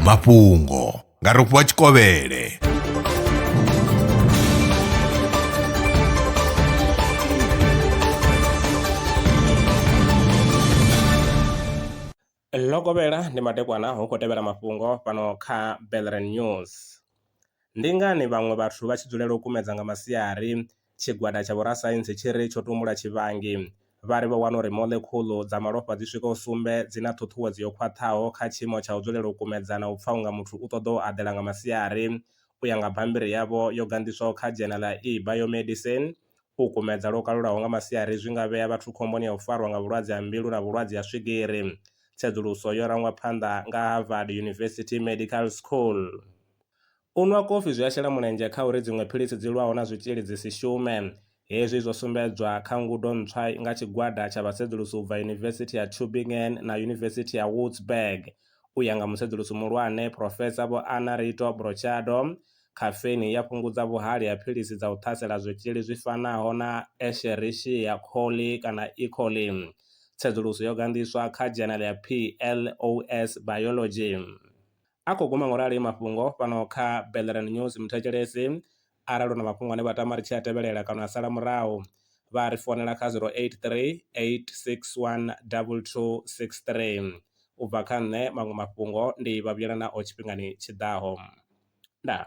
mafhungo nga rofhiwa tshikovhele ḽo kovhela ndi madekwana hu khou tevhela mafhungo fhano kha belren news ndi ngani vhaṅwe vhathu vha tshi dzulela u kumedza nga masiari Tshigwada tsha vhorasaintsi tshi ri tsho tumbula tshivhangi, vha ri vho wana uri moḽekhuḽu dza malofha dzi swikaho sumbe dzi na ṱhuṱhuwedzo yo khwaṱhaho kha tshiimo tsha u dzulela u kumedzana u pfa unga muthu u ṱoḓa u aḓela nga masiari. U ya nga bammbiri yavho yo ganḓiswaho kha dzhena ḽa eBiomedicine, u kumedza lwo kalulaho nga masiari zwi nga vhea vhathu khomboni ya u farwa nga vhulwadze ha mbilu na vhulwadze ha swigiri. Tsedzuluso yo rangwa phanḓa nga Harvard University Medical School. U nwa kofi zwi a shela mulenzhe kha uri dziṅwe philisi dzi lwaho na zwitzhili dzi si shume. Hezwi zwo sumbedzwa kha ngudo ntswa nga tshigwada tsha vhasedzulusi u bva Yunivesithi ya Tübingen na Yunivesithi ya Würzburg. U ya nga musedzulusi muhulwane Phurofesa Vho Anna Rito Brochado, khafeini i ya fhungudza vhuhali ha philisi dza u ṱhasela zwitzhili zwi fanaho na Escherichia coli kana E. coli. Tsedzuluso yo ganḓiswa kha dzhenele ya PLOS Biology. A khou guma ngo rali mafhungo fhano kha Bellerin News Muthetshelesi arali u na mafhungo ane vha tama ri tshi a tevhelela kana a sala murahu, vha a ri founela kha 0838612263. U bva kha nṋe, maṅwe mafhungo ndi vha vhuyela nao tshifhingani tshi ḓaho. Ndaa.